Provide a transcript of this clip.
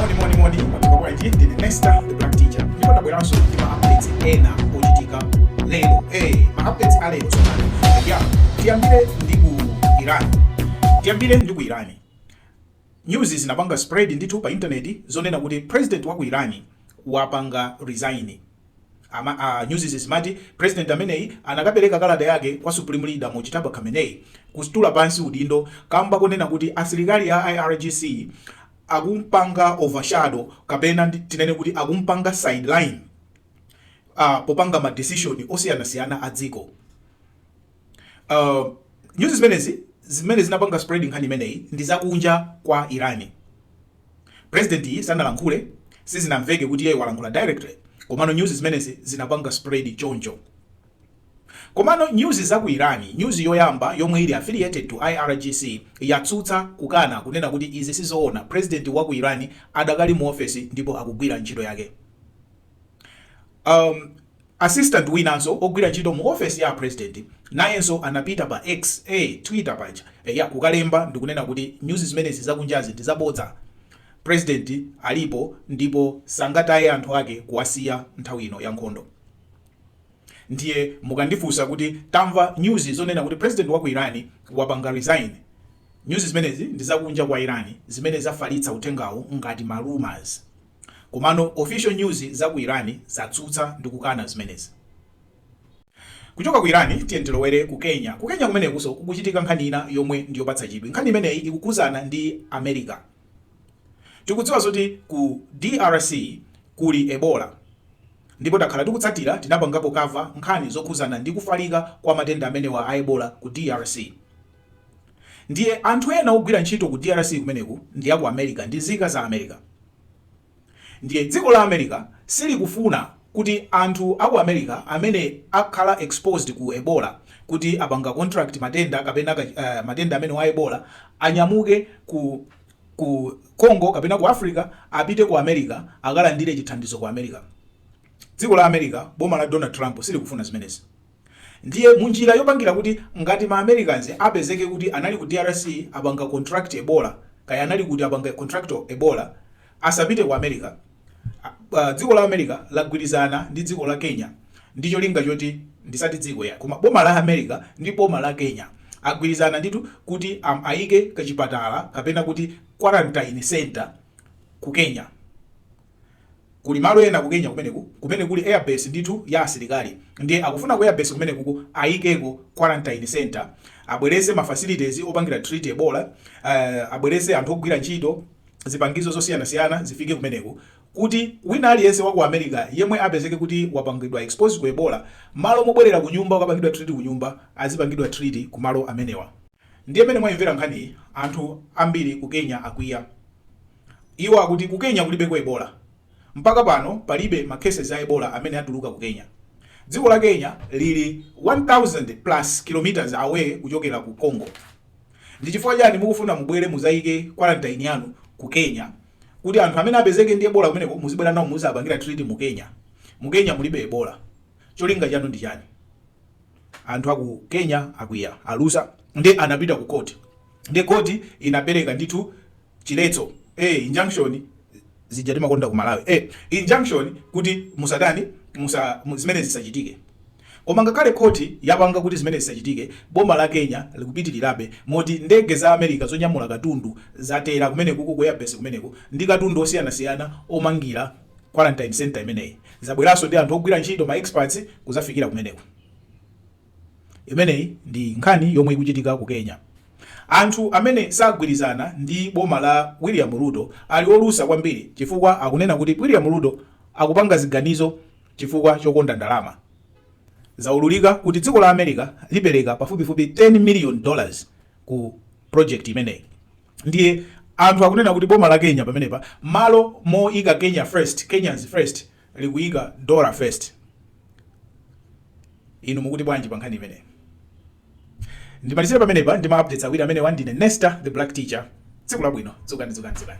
moni moni moni mwadzuka bwanji ndine nesta the black teacher ndipo ndabweranso ndi ma updates ena ochitika lero eh ma updates a lero tsopano eya tiyambire ndi ku iran tiyambire ndi ku iran news zinapanga spread ndithu pa intaneti zonena kuti president wa ku iran wapanga resign Ama a newszi zimati president ameneyi anakapereka kalata yake kwa supreme leader Mojtaba Khamenei kustula pansi udindo kamba konena kuti asilikali a IRGC akumpanga overshadow kapena tinene kuti akumpanga sideline popanga ma decision osiyanasiyana a dziko. Uh, nyuzi zimenezi zimene zinapanga spread nkhani imeneyi ndi zakunja kwa Iran. President yi sanalankhule, sizinamveke kuti yeye walankhula directly, komano nyuzi zimenezi zinapanga spread choncho. Komano nyuzi za ku Iran, nyuzi yoyamba yomwe ili affiliated to IRGC yatsutsa kukana kunena kuti izi sizoona, president wa ku Iran adakali mu office ndipo akugwira ntchito yake. Um, assistant winanso ogwira ntchito mu ofesi ya president nayenso anapita pa X a eh, Twitter paja eya eh, kukalemba ndikunena kuti nyuzi zimenezi zakunjazi ndi zabodza president alipo ndipo sangataye anthu ake kuwasiya nthawi ino ya nkhondo ndiye mukandifunsa kuti tamva nyuzi zonena kuti president wa ku Iran wapanga resign nyuzi zimenezi ndi zakunja kwa Iran zimene zafalitsa uthengawo ngati ma rumors Komano official news za ku Iran zatsutsa ndi kukana zimenezi. Kuchoka ku Iran tiyeni tilowere ku Kenya. Ku Kenya kumenekunso kukuchitika nkhani ina yomwe ndi yopatsa chidwi. Nkhani imeneyi ikukhudzana ndi America. Tikudziwa zoti ku drc kuli Ebola ndipo takhala tikutsatira, tinapangapo cover nkhani zokhudzana ndi kufalika kwa matenda amenewa a Ebola ku drc. Ndiye anthu ena ogwira ntchito ku drc kumeneku ndi aku America ndi nzika za America. Ndiye dziko la America silikufuna kuti anthu aku America amene akhala exposed ku Ebola kuti apanga contract matenda kapena ka matenda amenewa a Ebola anyamuke ku ku Congo kapena ku Africa apite ku America akalandire chithandizo ku America. Dziko la America boma la Donald Trump silikufuna zimenezi. Ndiye munjira yopangira kuti ngati ma Americans apezeke kuti anali ku drc apanga contract Ebola kaya anali kuti apanga contract Ebola asapite ku America, dziko la America lagwirizana ndi dziko la Kenya ndi cholinga choti, ndisati dziko yayi koma boma la America ndi boma la Kenya agwirizana ndithu kuti ayike kachipatala kapena kuti quarantine center ku Kenya. Kuli malo ena ku Kenya kumeneku kumene kuli airbase ndithu ya asilikali ndiye akufuna ku airbase kumenekuku ayikeko quarantine centre, abwerese ma facilities opangira treat Ebola, abwerese anthu ogwira ntchito, zipangizo zosiyanasiyana zifike kumeneku kuti wina aliyense wa ku America yemwe apezeke kuti wapangidwa expose ku Ebola, malo mobwerera kunyumba kukapangidwa treat kunyumba, azipangidwa treat kumalo amenewa. Ndiye mmene mwayimvera nkhani anthu ambiri ku Kenya akwiya. Iwo akuti ku Kenya kulibeko Ebola. Mpaka pano palibe ma cases a Ebola amene atuluka ku Kenya. Dziko la Kenya lili 1000 plus kilometers away kuchokera ku Congo. Ndi chifukwa chani mukufuna mubwere muzaike quarantine yanu ku Kenya kuti anthu amene apezeke ndi Ebola kumeneko muzibwera nawo muzapangira treat mu Kenya? Mu Kenya mulibe Ebola. Cholinga chanu ndi chani? Anthu aku Kenya akwiya, alusa nde anapita ku court. Nde court inapereka ndithu. chiletso injunction zija timakonda ku Malawi injunction kuti zimene zisachitike koma ngakhale court yapanga kuti zimene zisachitike boma la Kenya likupitirirabe moti ndege za America zonyamula katundu zatera kumenekuku ku airbase kumeneko ndi katundu osiyanasiyana omangira quarantine center imeneyi zabweranso ndi anthu ogwira ntchito ma experts kuzafikira kumeneko Imeneyi ndi nkhani yomwe ikuchitika ku Kenya. Anthu amene sagwirizana ndi boma la William Ruto ali olusa kwambiri chifukwa akunena kuti William Ruto akupanga ziganizo chifukwa chokonda ndalama. Zaululika kuti dziko la America lipereka pafupifupi 10 miliyoni dollars ku project imeneyi. Ndiye anthu akunena kuti boma la Kenya pamenepa malo moika Kenya first, Kenyans first, likuyika dollar first inu mukuti bwanji pa nkhani imeneyi ndimalizire pamenepa ndi ma updates awiri amenewa ndine nesta the black teacher tsiku labwino dzukani dzukani dzukani